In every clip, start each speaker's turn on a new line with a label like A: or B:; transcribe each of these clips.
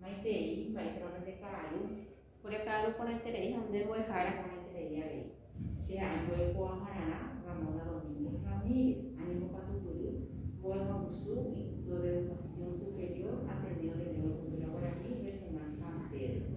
A: Maitei, mba'éichapa pende ka'aru. Ore ka'aru porãiterei ha nde mbo'ehára porãiterei avei. Che ha'e mbo'e kuaahararã, Ramona Domínguez Ramírez, ani mbokatupyry, mbo'e ha'usu, Instituto de Educación Superior, Ateneo de Lengua y Cultura Guaraní, Regional San Pedro.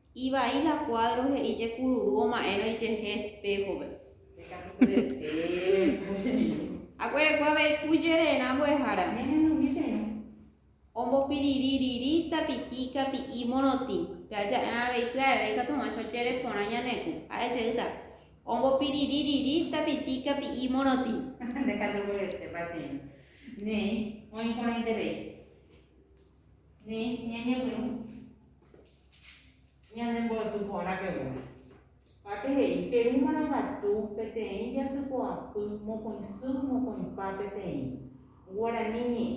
A: Ivai la kuádro he'i jekururu oma'ẽrõ ijehe espéhove. Aguerekua avei ku jererã mbo'ehára. Ombopiririri tapitíka pi'i morotĩ. Pe aja'erã avei pya'eve ikatu hag̃uáicha ojere porã ñane ku. Ha'e jeýta. Ombopiririri tapitíka pi'i morotĩ. Ndekatu mborete, pasénte. Néi, oĩ porãiterei. Néi, ñañepyrũ. Ñande mbo'epy porã pegua. Mba'épe he'i, Perúmarõ gatu peteĩ jasypo'apy mokõi sy mokõipa peteĩ. Guarani ñe'ẽ.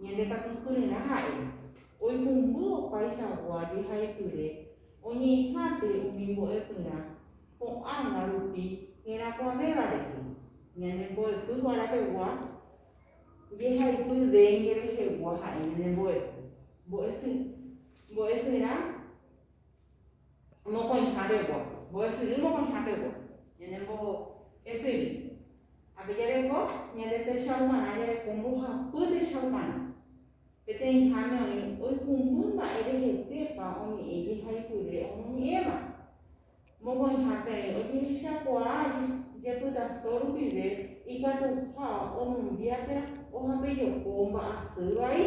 A: Ñande katu kyre'rã ha'e. Oipumby opaichagua jehaipyre oñe'ẽhápe umi mbo'epyrã ko'ãgua rupi herakuãvéva rehe. Ñande mbo'epy porã pegua. Jehaipy déngue rehegua ha'e ñande mbo'epy. Mbo'esy. Mbo'esyry mokõiha pegua. Mbo'esyry mokõiha pegua. Ñande mbo'esyry. Ápe jareko ñande techauparã jareko mbohapy techauparã. Peteĩháme oĩ oikumby mba'e rehetépa oñe'ẽ jehaipyre omoñe'ẽva. Mokõiha peẽ ojehechakuaa jepytaso rupive ikatuha omombia térã ohapejoko mba'asy vai.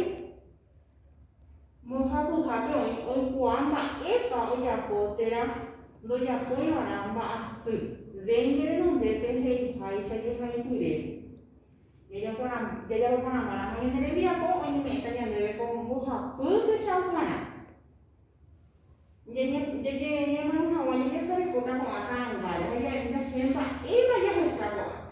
A: Mbohapyhápe oĩ oikuaa mba'épa ojapo térã ndojapóiva'erã mba'asy. Déime renonde peheiháicha jehayhupyre. Jajapo porãmbarãma ñane rembiapo oñeme'ẽta ñandéve ko mbohapy techau g̃uarã. Ñañemoirũ hag̃ua ñañesarekóta ko'ã ta'ãngáre ha ja'éta che mba'épa jahecha ko'ápe.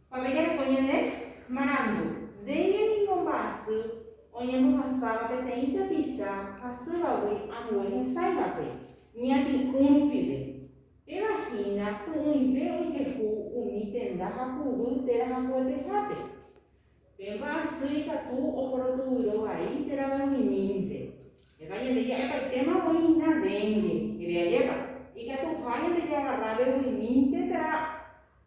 A: Pave jareko ñande marandu. Ndéve ningo mba'asy oñembohasáva peteĩ tapicha hasývagui ambue hesãivape, ñati'ũ rupive. Péva hína py'ỹive ojehu umi tenda ha puvy térã hakuetehápe. Pe mba'asy ikatu oporotyvyro vai térã vangimínte. Péva ñande ja'epaitéma voi hína dengue, jere ajépa, ikatuha ñandejagarra veguimínte térã.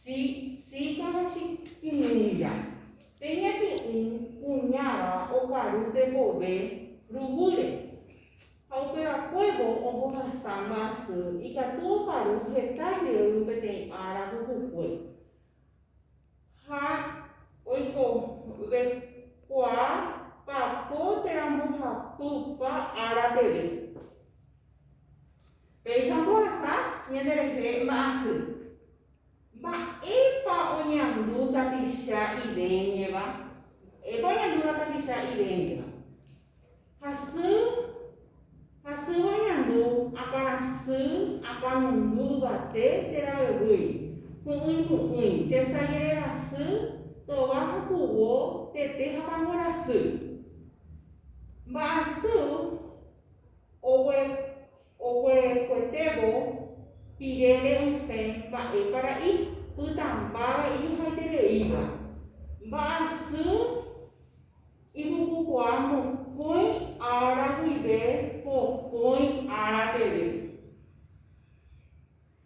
A: Chi, chícha ha chikirĩja. Pe ñati'ũ kuñáva okaru tekove ruvýre. Ha upe vakuévo ombohasa mba'asy ikatu okaru heta jey peteĩ ára pukukue. Ha oikove kuaa papo térã mbohapypa ára peve. Péicha ombohasa ñande rehe mba'asy. Mba'épa oñandu tapicha iveñeva? Mba'épa oñandúva tapicha iveñeva? Hasy, hasýva oñandu, akãrasy, akãnundu yvate térã guevýi, py'ỹi py'ỹi, tesa jererasy, tova ha puvo, tete ha pangorasy. Mba'asy Oguerokuetévo pirére osẽ mba'épa ra'i, pytãmbáva ijohaitereíva, mba'asy ipukukuaa mokõi ára guive pokõi ára peve.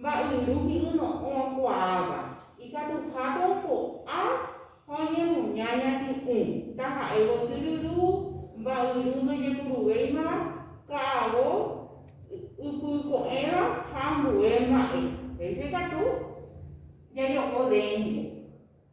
A: Mba'yru hi'yno'õ kuaáva, ikatuhápe oipo'a ha oñemuña ñati'ũ, taha'e gotý ryru, mba'yru ndojepuruvéimava, ka'avo ypyko'ẽva ha ambue mba'e. Péicha ikatu jajo'o dénte.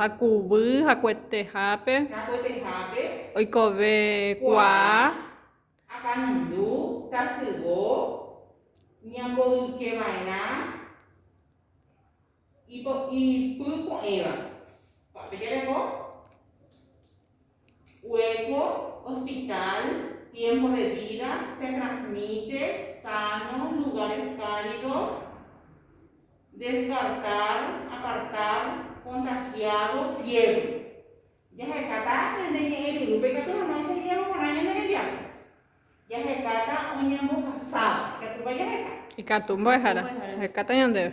A: ha kuvy hakuetehápe oikove kuaa akãrundu tasyvo ñamboyke va'erã ipy po'ẽva. Cuerpo, hospital, tiempo de vida, se transmite, sano, lugares cálido, descartar, apartar, contagiado, fiebre. Jahekáta ñande ñe'ẽ ryrúpe ikatu hag̃ua enseñávo porã ñande rembiapo. Jahekáta oñembohasáva. Ikatúpa jaheka. Ikatu mbo'ehára. Jahekáta ñandéve.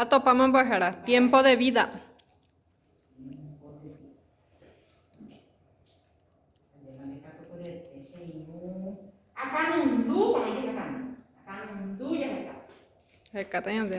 A: Atopáma mbo'ehára, tiempo de vida. Hekata ñande.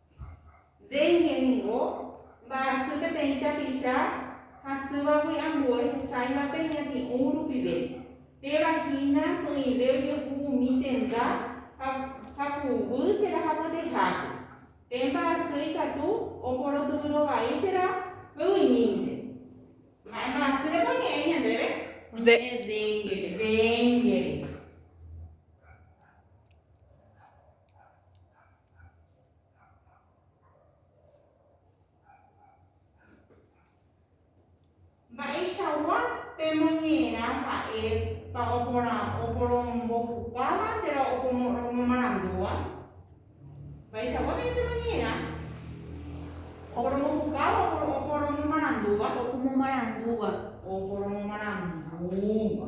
A: Dengue ningo mba'asy peteĩ tapicha hasývagui ambue hesáivape ñati'ũ rupive. Péva hína py'ỹive ojehu umi tenda ha haku'uguy térã hakuetehápe. Pe mba'asy ikatu oporotyvýro vai térã py'ymínte. Mba'e mba'asýrepa oñe'ẽ ñandéve? Oñe'ẽ dénguere. Mba'eichagua pemoñe'ẽrã ha'e pa oporomombopukává térã oporomomarandúva? Mba'eichagua peẽ pemoñe'ẽrã oporomopukáva oporomomarandúva? Oporomomarandúva. Oporomomarandúva.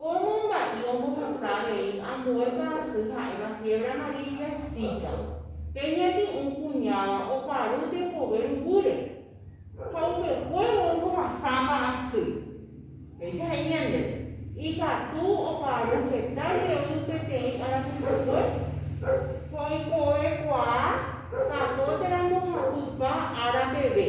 A: Ko momba'i ombohasa avei ambue parasy ha'éva fiebre amarilla y zika. Pe ñepy'ũ kuñáva oparu tekove ru'úre ha upekuévo ombohasa parasy. Péicha he'i ñandéve, Ikatu oparu heta jey peteĩ arapyhakue, ha oikovekuaa katu térã mbohapypa ára peve.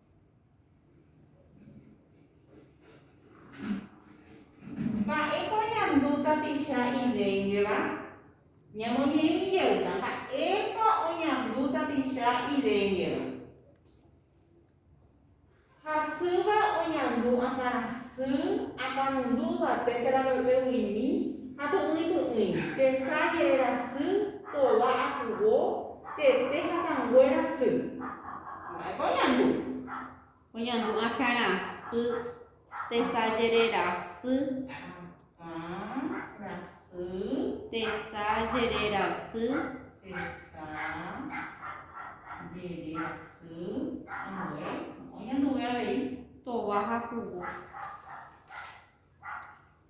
A: Mba'épa oñandu tapicha ivéngeva? Ñamoñe'ẽmi jeýta mba'épa oñandu tapicha ivéngeva. Hasýva oñandu akãrasy apanundu yvate térã veguimi ha py'ỹi py'ỹi, tesa jererasy, tova akuvo, tete hatãnguéra sy. Mba'épa oñandu? Oñandu akãra sy, tesajerera sy. Akãra sy. Tesajerera sy. Tesajerera sy. Ambue. Oñanduve avei. Tova ha kuvo.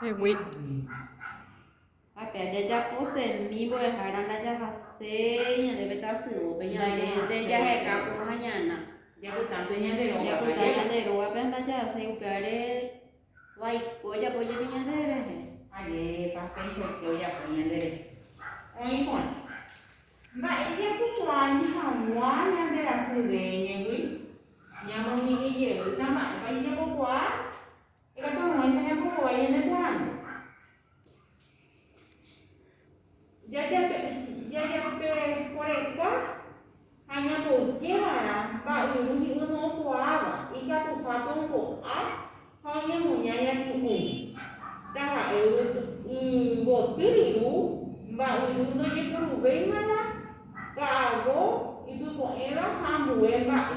A: Hegui. Ha pe ajajapo semi mbo'ehára ndajahaséi ñande pe tasyópe, ñandénte jaheka porã ñana. Japytánte ñande rógape. Japyta ñande rógape ha ndajahaséi upévare vaiko ojapo jepi ñande rehe. Ajépa péicha oke ojapo ñande rehe. Oĩ porã. Mba'e japukuaáne hag̃ua ñande rasy réñegui? Ñamoñe'ẽ jeýta mba'épa jajapokuaa? Ikatu amoĩ cheñapokõvai ñande porãnte. Jajapeporeka ha ñapoyke va'erã mba'yru hi'ỹ no'okuaáva, ikatuhápe ombo'a ha oñemoña ñaky'ũ. Taha'e yvoty ru mba'yru ndojeporuvéimava ka'avo ipypo'ẽva ha ambue mba'e.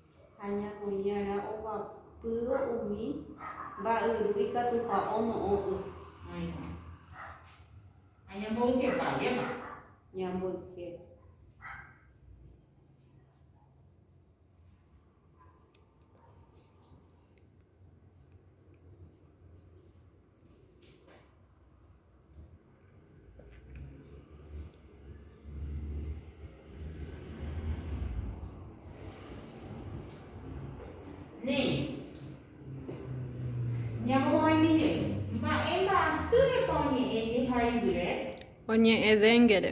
A: Ha ñamoĩ'arã ovapývo umi mba'yru ikatuha ono'õ y. Áirõ. Ha ñamboykepa jema. Ñamboyke. Oñe'ẽdengere.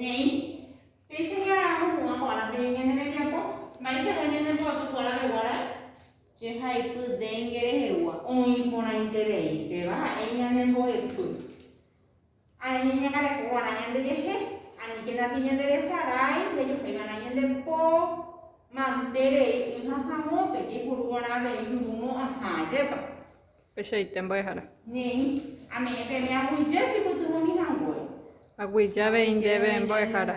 A: Néi, péicha jaharamo hũva kuaarã peẽ ñane rembiapo, mba'eichagua ñane mbo'apy kuaarã reguárae? Che haipy dengue rehegua. Oĩ porãiterei, péva ha'e ñane mbo'epy. Areño ñañangareko kuaarã ñande jehe, aníkena pe ñande resa rái, jajohéi va'erã ñande po mante rei y ha hagõpe, jaipuru kuaarã avei ñurumo'ãha, ajépa. Pechaite mbo'ehára. Néi, ame'ẽ peme aguyje chepytyvõmi hangue. Aguyje avei ndéve mbo'ehára.